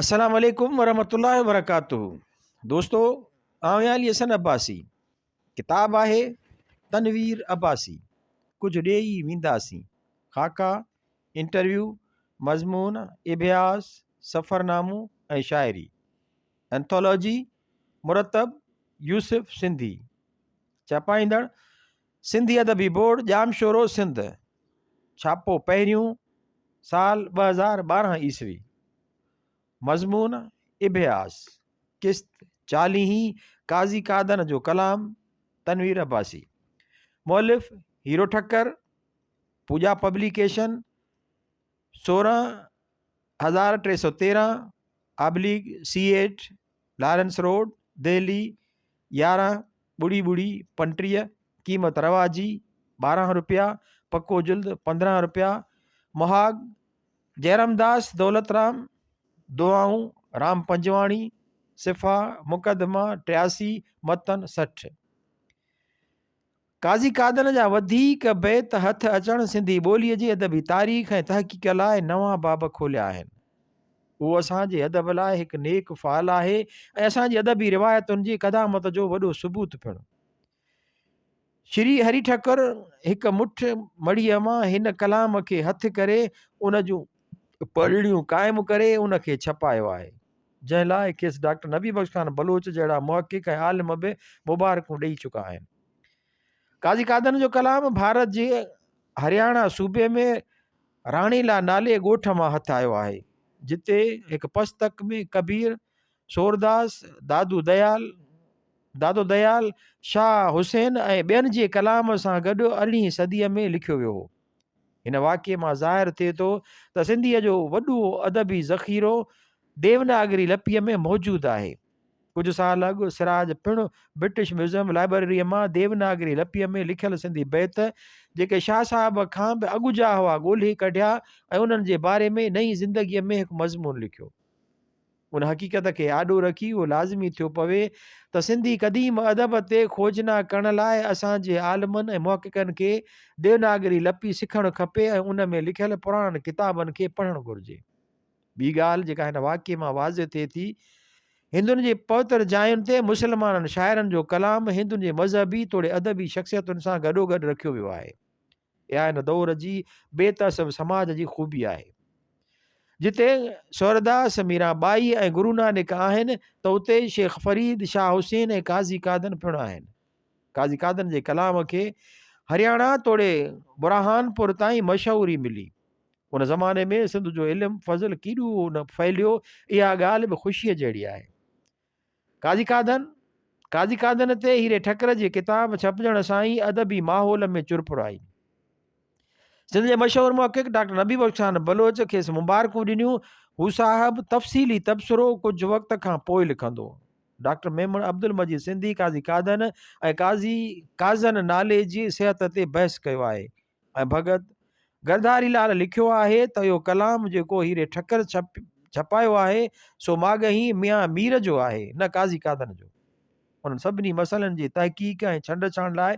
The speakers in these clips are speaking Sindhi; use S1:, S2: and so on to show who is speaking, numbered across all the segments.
S1: السلام عليڪم ورحمة الله وبرڪاته دوستو آئون آهيان علي حسن عباسي ڪتاب آهي تنوير عباسي ڪجهه ڏيئي وينداسين خاڪا انٽرويو مضمون اڀياس سفرنامو ۽ شاعري انٿالاجي مرتب يوسف سنڌي چاپائيندڙ سنڌي ادبي بورڊ ڄامشورو سنڌ ڇاپو پهريون سال ٻه هزار ٻارهن عيسوي مضمون اڀياس قسط چاليهين قاضي قادن جو ڪلام تنوير عباسي مؤلف هيرو ٺڪر پوڄا پبليڪيشن سورهن هزار ٽي سؤ تيرهن oblique C eight Lawrence road Delhi يارهن ٻڙي ٻڙي پنٽيهه قيمت روا جي ٻارهن روپيا پڪو جلد پندرهن روپيا مهاڳ جئرامداس دولترام دعائون رام پنجواڻي صفا مقدما ٽياسي متن سٺ قاضي قادن جا وڌيڪ بيت هٿ اچڻ سنڌي ٻوليء جي ادبي تاريخ ۽ تحقيق لاء نوان باب کوليا آهن. هو اسان جي ادب لاء هڪ نيڪ فعل آهي ۽ اسان جي ادبي روايتن جي قدامت جو وڏو ثبوت پڻ. شري هري ٺڪر هڪ مٺ مڙهيء مان هن ڪلام کي هٿ ڪري ان جون پڙهڻيون قائم ڪري ان کي ڇپايو آهي، جنهن لاء کيس ڊاڪٽر نبي بخش خان بلوچ جهڙا محقق ۽ عالم به مبارڪون ڏئي چڪا آهن. قاضي قادن جو ڪلام ڀارت جي هرياڻا صوبي ۾ راڻيلا نالي ڳوٺ مان هٿ آيو آهي، جتي هڪ پستڪ ۾ ڪبير، سورداس، دادو ديال، دادو ديال، شاهه حسين ۽ ٻين جي ڪلام سان گڏ ارڙهين صديء ۾ لکيو ويو هو. هن واقعي مان ظاهر ٿئي ٿو ته سنڌيء جو وڏو ادبي ذخيرو ديوناگري لپيء ۾ موجود آهي. ڪجهه سال اڳ سراج پڻ برٽش ميوزيم لائبرريء مان ديوناگري لپيء ۾ لکيل سنڌي بيت، جيڪي شاهه صاحب کان به اڳ جا هئا، ڳولهي ڪڍيا ۽ انهن جي باري ۾ نئين زندگيء ۾ هڪ مضمون لکيو. ان حقيقت کي آڏو رکي اهو لازمي ٿيو پوي ته سنڌي قديم ادب تي کوجنا ڪرڻ لاء اسان جي عالمن ۽ محققن کي ديوناگري لپي سکڻ کپي ۽ ان ۾ لکيل پراڻن ڪتابن کي پڙهڻ گهرجي. ٻي ڳالهه جيڪا هن واقعي مان واضح ٿئي ٿي، هندن جي پوتر جاين تي مسلمانن شاعرن جو ڪلام هندن جي مذهبي توڙي ادبي شخصيتن سان گڏوگڏ رکيو ويو آهي. اها هن دؤر جي بي تعصب سماج جي خوبي آهي. جتي سورداس، ميران ٻائي ۽ گرونانڪ آهن ته اتي شيخ فريد، شاهه حسين ۽ قاضي قادن پڻ آهن. قاضي قادن جي ڪلام کي هرياڻا توڙي برهان پور تائين مشهوري ملي. ان زماني ۾ سنڌ جو علم فضل ڪيڏو نه ڦهليو اها ڳالهه به خوشيء جهڙي آهي. قاضي قادر، قاضي قادر تي هيري ٺڪر جي ڪتاب ڇپجڻ سان ئي ادبي ماحول ۾ چرپر آئي. سنڌ جي مشهور محقق ڊاڪٽر نبي بخش خان بلوچ کيس مبارڪون ڏنيون. هو صاحب تفصيلي تبصرو ڪجهه وقت کان پوء لکندو هو. ڊاڪٽر ميمڻ عبدالمجيد سنڌي قاضي قادر ۽ قاضي قاضن نالي جي صحت تي بحث ڪيو آهي. ۽ ڀڳت گرڌاري لال لکيو آهي ته اهو ڪلام جيڪو هيري ٺڪر ڇپ ڇپايو آهي سو ماڳهي ميان مير جو آهي نه قاضي قادن جو انهن سڀني مسئلن جي تحقيق ۽ ڇنڊ ڇاڻ لاء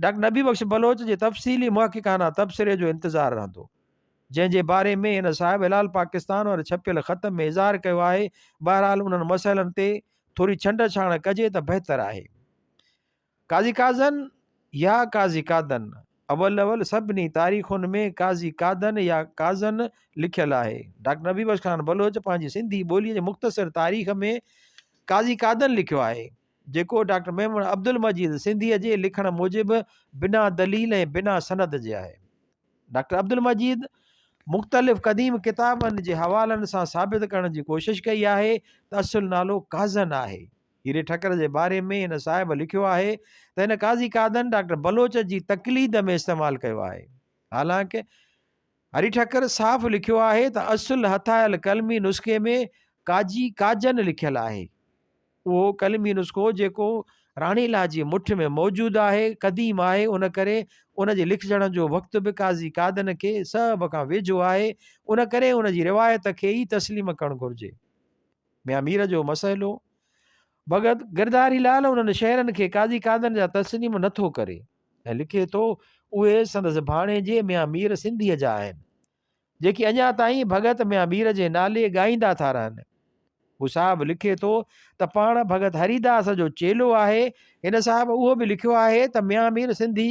S1: ڊاڪٽر نبي بخش بلوچ جي تفصيلي محققانه تبصري جو انتظار رهندو جنهن جي باري ۾ هن صاحب هلال پاڪستان واري ڇپيل خط ۾ اظهار ڪيو آهي بهرحال انهن مسئلن تي ٿوري ڇنڊ ڇاڻ ڪجي ته بهتر آهي قاضي قاضن يا قاضي قادن، اول اول سڀني تاريخن ۾ قاضي قادن يا قاضن لکيل آهي. ڊاڪٽر نبي بخش خان بلوچ پنهنجي سنڌي ٻوليء جي مختصر تاريخ ۾ قاضي قادن لکيو آهي، جيڪو ڊاڪٽر ميمڻ عبدالمجيد سنڌيء جي لکڻ موجب بنا دليل ۽ بنا سند جي آهي. ڊاڪٽر عبدالمجيد مختلف قديم ڪتابن جي حوالن سان ثابت ڪرڻ جي ڪوشش ڪئي آهي ته اصل نالو قاضن آهي. هيري ٺڪر جي باري ۾ هن صاحب لکيو آهي ته هن قاضي قادن ڊاڪٽر بلوچ جي تقليد ۾ استعمال ڪيو آهي. حالانڪ هري ٺڪر صاف لکيو آهي ته اصل هٿايل قلمي نسخي ۾ قاضي قاجن لکيل آهي. اهو قلمي نسخو جيڪو راڻي لاء جي مٺ ۾ موجود آهي، قديم آهي ان ڪري ان جي لکجڻ جو وقت به قاضي قادن کي صحب کان ويجهو آهي، ان ڪري ان جي روايت کي ئي تسليم ڪرڻ گهرجي. ميان مير جو مسئلو، ڀڳت گرڌاري لال انهن شعرن کي قاضي قادن جا تسليم نه ٿو ڪري ۽ لکي ٿو، اهي سندس ڀاڻيجي ميان مير سنڌيء جا آهن، جيڪي اڃا تائين ڀڳت ميان مير جي نالي ڳائيندا ٿا رهن. هو صاحب لکي ٿو ته پاڻ ڀڳت هريداس جو چيلو آهي. هن صاحب اهو به لکيو آهي ته ميان مير سنڌي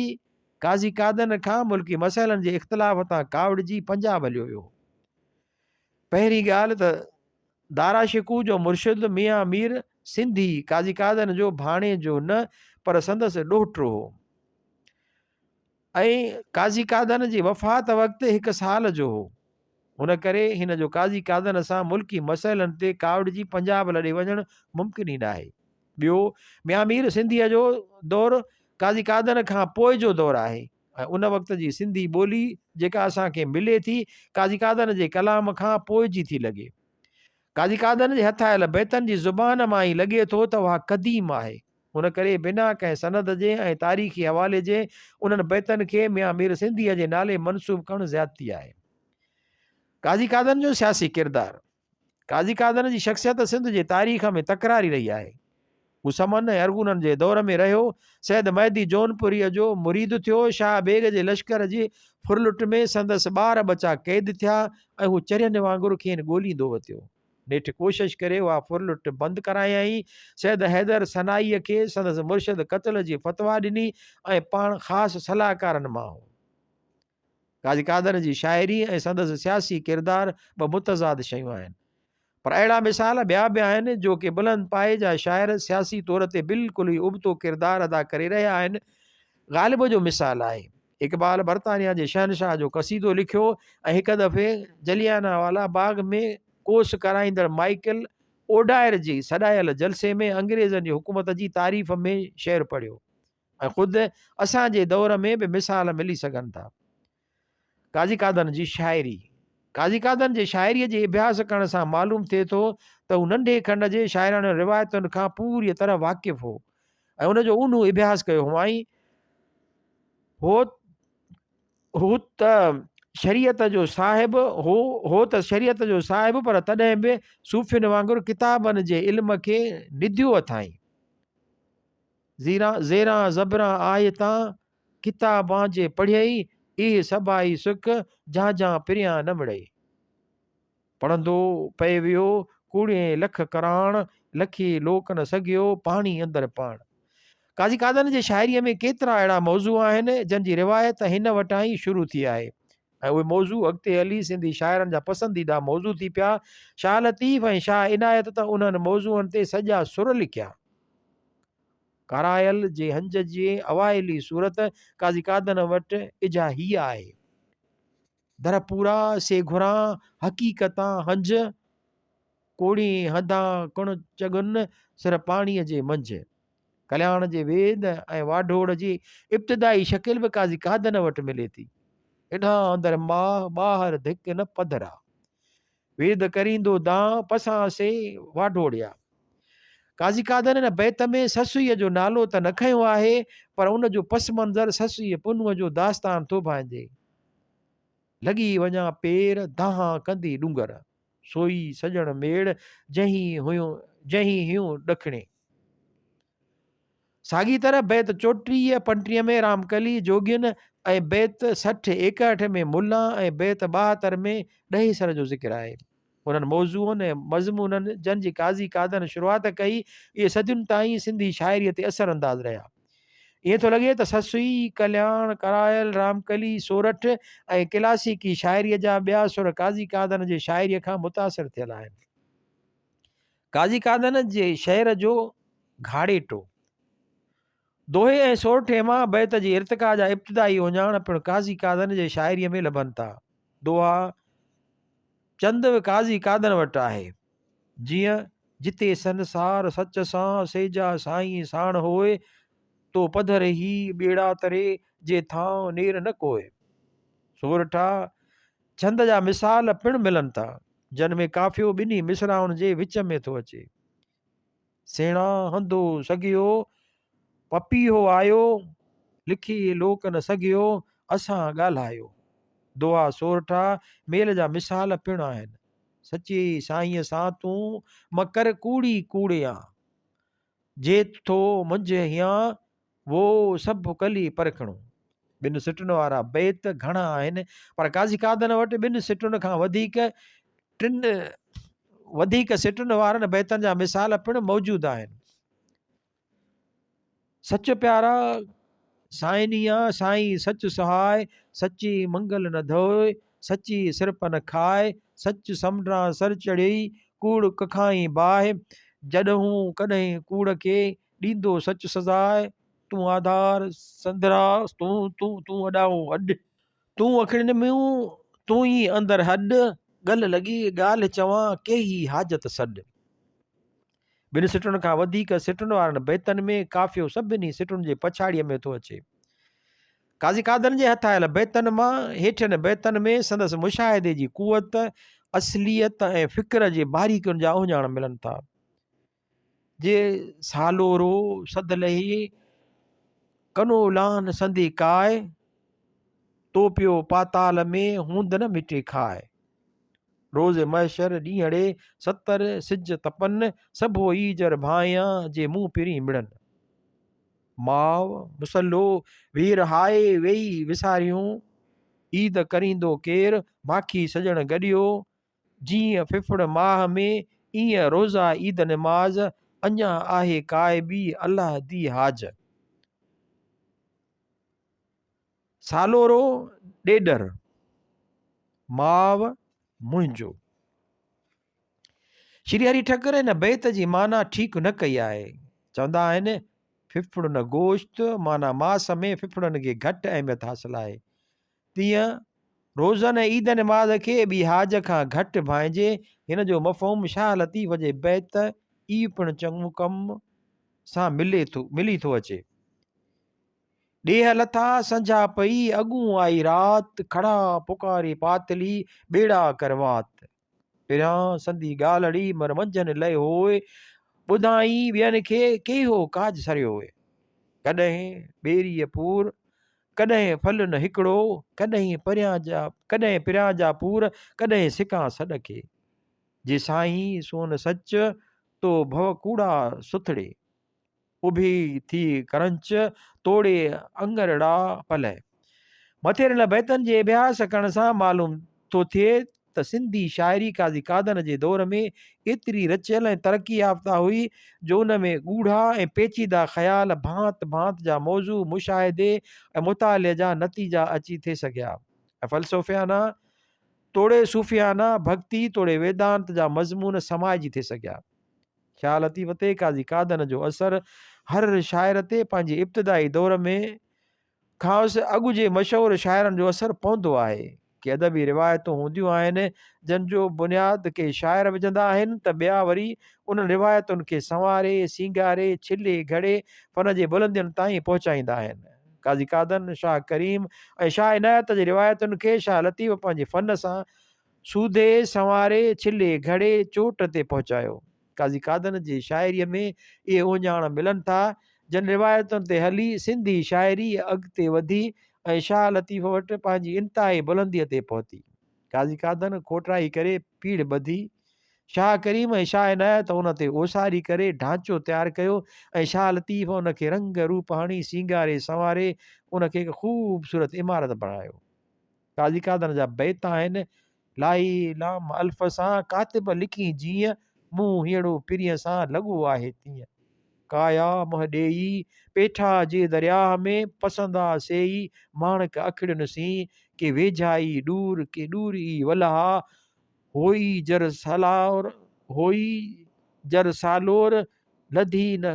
S1: قاضي قادن کان ملڪي مسئلن جي اختلاف تان ڪاوڙجي پنجاب هليو ويو. پهرين ڳالهه ته دارا شڪوه جو مرشد ميان مير سنڌي قاضي قادن جو ڀاڻيجو نه پر سندس ڏوهٽو هو ۽ قاضي قادن جي وفات وقت هڪ سال جو هو ان ڪري هن جو قاضي قادن سان ملڪي مسئلن تي ڪاوڙجي پنجاب لڏي وڃڻ ممڪن ئي ناهي ٻيو ميان مير سنڌيء جو دور قاضي قادن کان پوء جو دور آهي ۽ ان وقت جي سنڌي ٻولي جيڪا اسان کي ملي ٿي قاضي قادن جي ڪلام کان پوء جي ٿي لڳي. قاضي قادن جي هٿ آيل بيتن جي زبان مان ئي لڳي ٿو ته اها قديم آهي. ان ڪري بنا ڪنهن سند جي ۽ تاريخي حوالي جي انهن بيتن کي ميان مير سنڌيء جي نالي منسوب ڪرڻ زيادتي آهي. قاضي قادن جو سياسي ڪردار. قاضي قادر جي شخصيت سنڌ جي تاريخ ۾ تڪراري رهي آهي. هو سمن ۽ ارغونن جي دور ۾ رهيو، سيد مهدي جونپوريء جو مريد ٿيو، شاهه بيگ جي لشڪر جي ڦرلٽ ۾ سندس ٻار ٻچا قيد ٿيا ۽ هو چرين وانگر کين ڳوليندو وتيو. نيٺ ڪوشش ڪري اها ڦرلٽ بند ڪرايائين. سيد حيدر سنائيء کي سندس مرشد قتل جي فتويٰ ڏني ۽ پاڻ خاص صلاحڪارن مان هو. قاضي قادر جي شاعري ۽ سندس سياسي ڪردار ٻه متضاد شيون آهن. پر اهڙا مثال ٻيا به آهن جو ڪي بلند پايي جا شاعر سياسي طور تي بلڪل ئي ابتو ڪردار ادا ڪري رهيا آهن. غالب جو مثال آهي. اقبال برطانيا جي شهنشاهه جو قصيدو لکيو ۽ هڪ دفعي جليانا والا باغ ۾ ڪوس ڪرائيندڙ مائيڪل اوڊائر جي سڏايل جلسي ۾ انگريزن جي حڪومت جي تعريف ۾ شعر پڙهيو. ۽ خود اسان جي دور ۾ به مثال ملي سگهن ٿا. قاضي قادن جي شاعري، قاضي قادن جي شاعريء جي اڀياس ڪرڻ سان معلوم ٿئي ٿو ته هو ننڍي کنڊ جي شاعراڻين روايتن کان پوريء طرح واقف هو ۽ ان جو اونهو اڀياس ڪيو هئائين. هو هو ته شريعت جو صاحب هو هو ته شريعت جو صاحب پر تڏهن به صوفين وانگر ڪتابن جي علم کي نڌيو اٿائين. زيران زيران زبران آهي تان، ڪتابان جي پڙهيئي، اهي سڀائي سڪ، جهانجهان پريان نه مڙئي. پڙهندو پئي ويو، ڪوڙهين لک ڪراڻ، لکي لوڪ نه سگهيو، پاڻي اندر پاڻ. قاضي قادن جي شاعريء ۾ ڪيترا اهڙا موضوع آهن، جن جي روايت هن وٽان ئي شروع ٿي آهي ۽ اهي موضوع اڳتي هلي سنڌي شاعرن جا پسنديده موضوع ٿي پيا. شاهه لطيف ۽ شاهه عنايت ته انهن موضوعن تي سڄا سر لکيا. ڪارائل جي هنج جي اوائلي صورت قاضي قادن وٽ اجها هيء آهي. در پورا سي گهران حقيقتان هنج، ڪوڙي هنڌان ڪڻ چڳن سر پاڻيء جي منجهه. ڪلياڻ جي ويد ۽ واڍوڙ جي ابتدائي شڪل به قاضي قادن وٽ ملي ٿي. انهان اندر ماهه ٻاهر ڌڪ نه پڌرا. ويد ڪريندو دانهن پسان سي واڍوڙيا. قاضي قادر هن بيت ۾ سسئيء جو نالو ته نه کنيو آهي پر ان جو پس منظر سسئيء پنهونء جو داستان ٿو ڀانئجي. لڳي وڃان پير دانهن ڪندي ڏونگر. سوئي سڄڻ ميڙ جنهين هيون ڏکڻي. ساڳي طرح بيت چوٽيهه پنٽيهه ۾ رامڪلي جوڳين ۽ بيت سٺ ايڪهٺ ۾ ملان ۽ بيت ٻاهتر ۾ ڏهيسر جو ذڪر آهي. انهن موضوعن ۽ مضمونن جن جي قاضي قادن شروعات ڪئي، اهي صدين تائين سنڌي شاعريء تي اثر انداز رهيا. ائين ٿو لڳي ته سسئي، ڪلياڻ، ڪرائل، رامڪلي، سورٺ ۽ ڪلاسيڪي شاعريء جا ٻيا سر قاضي قادن جي شاعريء کان متاثر ٿيل آهن. قاضي قادن جي شعر جو گهاڙيٽو دوهي ۽ سورٺي مان بيت جي ارتقا جا ابتدائي اوڃاڻ پڻ قاضي قادن جي شاعريء ۾ لڀن ٿا دوها چند به قاضي قادن وٽ آهي جيئن جتي سنسار سچ سان سيجا سائين ساڻ هوئي تو پڌر هي ٻيڙا تري جي ٿانء نير نه ڪوئي سورٺا ڇند جا مثال پڻ ملن ٿا، جن ۾ قافيو ٻنهي مصراعن جي وچ ۾ ٿو اچي، سيڻا هندو سگهيو، پپيهو آيو، لکي لوڪ نه سگهيو، اسان ڳالهايو. دوها سورٺا ميل جا مثال پڻ آهن، سچي سائينء سان تون م ڪر ڪوڙي ڪوڙيان، جيت ٿو منجهه هيان، وو سڀ ڪلي پرکڻو. ٻن سٽن وارا بيت گهڻا آهن پر قاضي قادن وٽ ٻن سٽن کان وڌيڪ ٽن وڌيڪ سٽن وارن بيتن جا مثال پڻ موجود آهن سچ پيارا سائنيا سائين سچ سهائي سچي منگل نه ڌوئي سچي سرپ نه کائي سچ سمنڊان سر چڙهي ڪوڙ ڪکائين باهه جڏهون ڪڏهن ڪوڙ کي ڏيندو سچ سزاء تون آڌار سندرا تون تون تون اڏاوو اڏ تون اکڙين ميون تون ئي اندر هڏ ڳل لڳي ڳالهه چوان ڪيهي حاجت سڏ ٻن سٽن کان وڌيڪ سٽن وارن بيتن ۾ ڪافيو سڀني سٽن جي پڇاڙيء ۾ ٿو اچي قاضي قادر جي هٿ آيل بيتن مان هيٺين بيتن ۾ سندس مشاهدي جي قوت اصليت ۽ فڪر جي باريڪين جا اوهڃاڻ ملن ٿا جي سالورو سڌ لهي، ڪنو لان سندي ڪاء، توپيو پاتال ۾، هوند نه مٽي کاء. روز محشر ڏينهڙي، ستر سج تپن، سڀو ايجر ڀانئيان، جي مون پرين مڙن. ماء مصلو وير هاء، ويئي وساريون، عيد ڪريندو ڪير، ماکي سڄڻ گڏيو، جيئن ڦڦڙ ماهه ۾ ايئن روزا عيد نماز، اڃا آهي قائبي الله دي حاج. سالورو ڏيڏر ماء منهنجو. شري هري ٺڪر هن بيت جي معنيٰ ٺيڪ نه ڪئي آهي. چوندا آهن ڦڦڙن گوشت معنيٰ ماس ۾ ڦڦڙن کي گهٽ اهميت حاصل آهي. تيئن روزن ۽ عيد نماز کي ٻي حاج کان گهٽ ڀانئجي، هن جو مفهوم شاهه لطيف جي بيت اي پڻ چڱو ڪم سان ملي ٿو ملي ٿو اچي. ڏيهه لٿا سنجها پئي، اڳون آئي رات، کڙا پڪاري پاتلي، ٻيڙا ڪر وات. پريان سندي ڳالهه اڙي مر منجهن لئي هوء ٻڌائين ٻين کي ڪيهو ڪاڄ سريو هوء ڪڏهن ٻيريء پور ڪڏهن ڦل نه هڪڙو ڪڏهن پريان جا ڪڏهن پريان جا پور ڪڏهن سڪان سڏ کي جي سائين سون سچ تو ڀو ڪوڙا سٿڙي اڀي ٿي ڪرنچ توڙي اڱرڙا پلئه. مٿيرل بيتن جي اڀياس ڪرڻ سان معلوم ٿو ٿئي ته سنڌي شاعري قاضي قادن جي دور ۾ ايتري رچيل ۽ ترقي يافته هئي جو ان ۾ ڳوڙها ۽ پيچيده خيال، ڀانت ڀانت جا موضوع، مشاهدي ۽ مطالعي جا نتيجا اچي ٿي سگهيا ۽ فلسفيانه توڙي صوفيانه، ڀڳتي توڙي ويدانت جا مضمون سمائجي ٿي سگهيا. شاهه لطيف تي قاضي قادن جو اثر هر شاعر تي پنهنجي ابتدائي دور ۾ کانئس اڳ جي مشهور شاعرن جو اثر پوندو آهي ڪي ادبي روايتون هونديون آهن جن جو بنياد ڪي شاعر وجهندا آهن ته ٻيا وري انهن روايتن کي سنواري سينگاري ڇلي گهڙي فن جي بلندين تائين پهچائيندا آهن قاضي قادن شاهه ڪريم ۽ شاهه عنايت جي روايتن کي شاهه لطيف پنهنجي فن سان سودي سنواري ڇلي گهڙي چوٽ تي پهچايو. قاضي قادن جي شاعريء ۾ اهي اوهڃاڻ ملن ٿا، جن روايتن تي هلي سنڌي شاعري اڳتي وڌي ۽ شاهه لطيف وٽ پنهنجي انتهائي بلنديء تي پهتي. قاضي قادن کوٽرائي ڪري پيڙهه ٻڌي. شاهه ڪريم ۽ شاهه عنايت ان تي اوساري ڪري ڍانچو تيار ڪيو ۽ شاهه لطيف ان کي رنگ روپ هڻي سينگاري سنواري ان کي هڪ خوبصورت عمارت بڻايو. قاضي قادر جا بيت آهن، لاهي لام الف سان ڪاتب لکي جيئن، منهن هينئڙو پرينء سان لڳو آهي تيئن. ڪايا منهن ڏيئي پيٺا جي درياهه ۾، پسندا سيئي ماڻڪ اکڙين سين. ڪي ويجهائي ڏور ڪي ڏور ئي ولها، هوئي جر سالور هوئي جر سالور. لڌي نه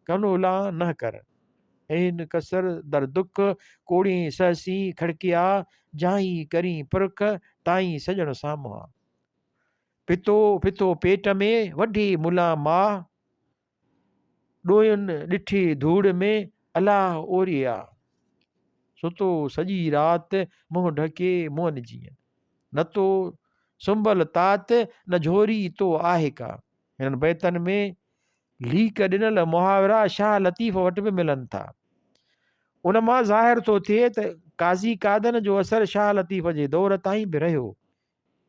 S1: ڪنولا نه ڪر. اين ڪسر در دک، ڪوڙين سهسين کڙڪيا، جاهين ڪرين پرک، تائين سڄڻ سامهان. پھتو پھتو پيٽ ۾، وڍي ملا ماهه، ڏوين ڏٺي ڌوڙ ۾، الاه اوري آ. ستو سڄي رات، منهن ڍڪي مئن جيئن. نه تو سنبل تات، نه جھوري تو آهه ڪا. هنن بيتن ۾ ليڪ ڏنل محاورا شاهه لطيف وٽ به ملن ٿا. ان مان ظاهر ٿو ٿئي ته قاضي قادن جو اثر شاهه لطيف جي دور تائين به رهيو.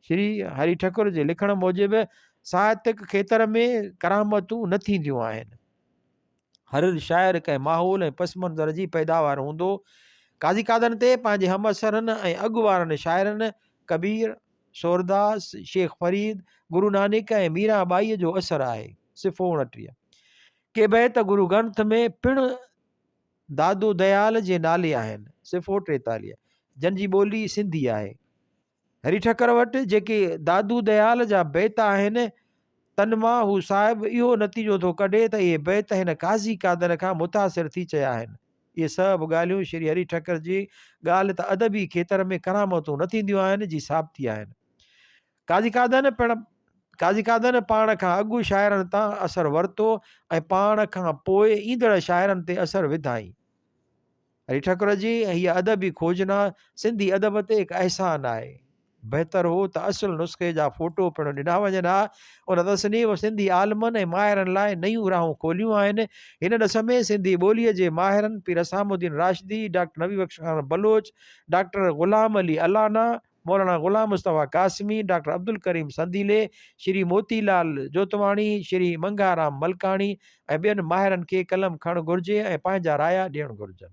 S1: شري هري ٺڪر جي لکڻ موجب ساهتڪ کيتر ۾ ڪرامتون نه ٿينديون آهن. هر شاعر ڪنهن ماحول ۽ پس منظر جي پيداوار هوندو. قاضي قادن تي پنهنجي همعصرن ۽ اڳ وارن شاعرن ڪبير، سورداس، شيخ فريد، گرو نانڪ ۽ ميران ٻائيء جو اثر آهي، صفحو اوڻٽيهه. ڪي بيت گرو گرنٿ ۾ پڻ دادو ديال جي نالي آهن، صفحو ٽيتاليهه، جن جي ٻولي سنڌي آهي. هري ٺڪر وٽ جيڪي دادو ديال جا بيت آهن، تن مان هو صاحب اهو نتيجو ٿو ڪڍي ته اهي بيت هن قاضي قادر کان متاثر ٿي چيا آهن. اهي سڀ ڳالهيون شري هري ٺڪر جي ڳالهه ته ادبي کيتر ۾ ڪرامتون نه ٿينديون آهن جي ثابتي آهن. قاضي قادر پڻ قاضي قادر پاڻ کان اڳ شاعرن تان اثر ورتو ۽ پاڻ کان پوء ايندڙ شاعرن تي اثر وڌائين. علي ٺڪر جي هيء ادبي کوجنا سنڌي ادب تي هڪ احسان آهي. بهتر هو ته اصل نسخي جا فوٽو پڻ ڏنا وڃن ها. ان تصنيف سنڌي عالمن ۽ ماهرن لاء نيون راهون کوليون آهن. هن ڏس ۾ سنڌي ٻوليء جي ماهرن Pir Hussamuddin Rashdi, doctor Nabi Bakhsh Khan Baloch, doctor Ghulam Ali Allana, Maulana Ghulam Mustafa Qasmi, doctor Abdul Karim Sandeeli, Shri Moti Lal Jotwani, Shri Mangharam Malkani ۽ ٻين ماهرن کي قلم کڻڻ گهرجي ۽ پنهنجا رايا ڏيڻ گهرجن.